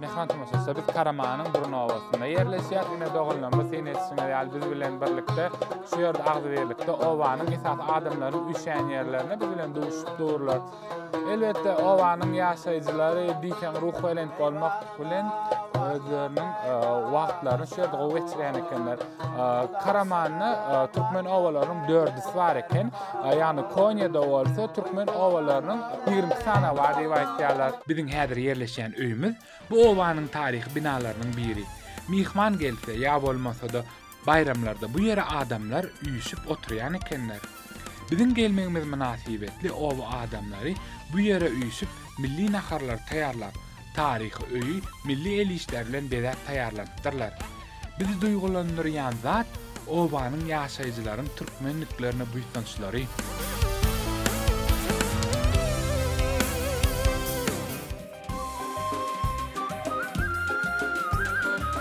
Mehman tomaşaçylar biz Karamanyň burun obasynda ýerleşýär. Ine doganlarymyz sen etişiňiz ýaly biz bilen birlikde şu ýerde agzybirlikde obanyň esas adamlaryň üşän ýerlerine biz bilen duşup durlar. Elbetde obanyň ýaşaýjylary diýseň ruh belent bolmak bilen özleriniň e, wagtlaryny şu ýerde gowy geçirýän ekenler. Karamanda türkmen obalarynyň dördüsi bar eken. Ýagny Konýada bolsa türkmen obalarynyň 22 sany bar diýip aýtýarlar. Biziň häzir ýerleşýän öýümiz bu obanyň taryhy binalarynyň biri. Myhman gelse ýa bolmasa-da baýramlarda bu ýere adamlar üýşüp oturýan ekenler. Biziň gelmegimiz mynasybetli oba adamlary bu ýere üýşüp milli naharlary taýýarlap, Taryhy öýi milli el işleri bilen bezäp taýýarlanypdyrlar. Bizi duýgulandyrýan zat, obanyň ýaşaýjylaryň türkmenliklerine buýsançlary.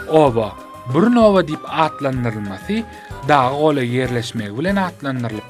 Oba, Burun oba diýip atlandyrylmasy, daga golaý ýerleşmegi bilen atlandyrylypdyr.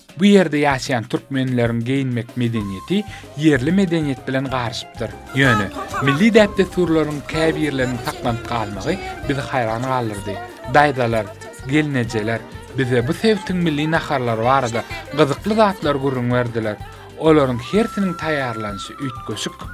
Bu ýerde ýaşaýan türkmenleriň geýinmek medeniýeti ýerli medeniýet bilen garyşypdyr. Ýöne, milli däp-dessurlaryň käbirleriniň saklanyp galmagy bizi haýran galdyrdy. Daýzalar, gelnejeler bize bu sebitiň milli naharlary barada gyzykly zatlar gürrüň berdiler. Olaryň hersiniň taýýarlanyşy üýtgeşik.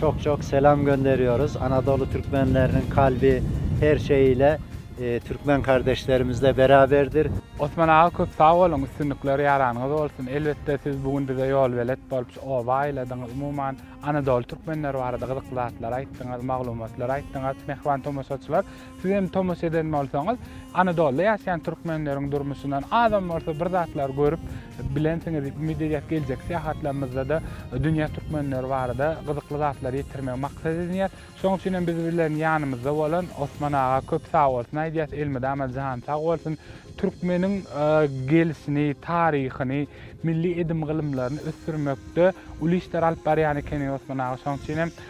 Çok çok selam gönderiyoruz Anadolu Türkmenleriniň kalbi her şeyiyle Türkmen kardeşlerimizle beraberdir. Osman aga köp sag boluň üstünlikler ýaranyňyz bolsun elbetde siz bu gün bize ýolbelet bolup şu oba aýladyňyz umuman Anadoly Türkmenleri barada gyzykly zatlar aýtdyňyz maglumatlar aýtdyňyz Mähriban tomaşaçylar Siz hem tomaşa eden bolsaňyz, Anadoluda ýaşaýan türkmenleriň durmuşyndan azam bolsa bir zatlar görüp bilensiňiz diýip umyt edýäs. Geljekki syýahatlarymyzda-da dünýä türkmenleri barada gyzykly zatlary ýetirmegi maksat edinýäs. Şonuň üçin hem biz bilen ýanymyzda bolan Osman aga köp sagbolsun aýdýas, elmydama jany sag bolsun. Türkmeniň gelşini, taryhyny, milli edim-gylymlaryny ösdürmekde uly işler alyp barýan ekeniň Osman aga. Şonuň üçin hem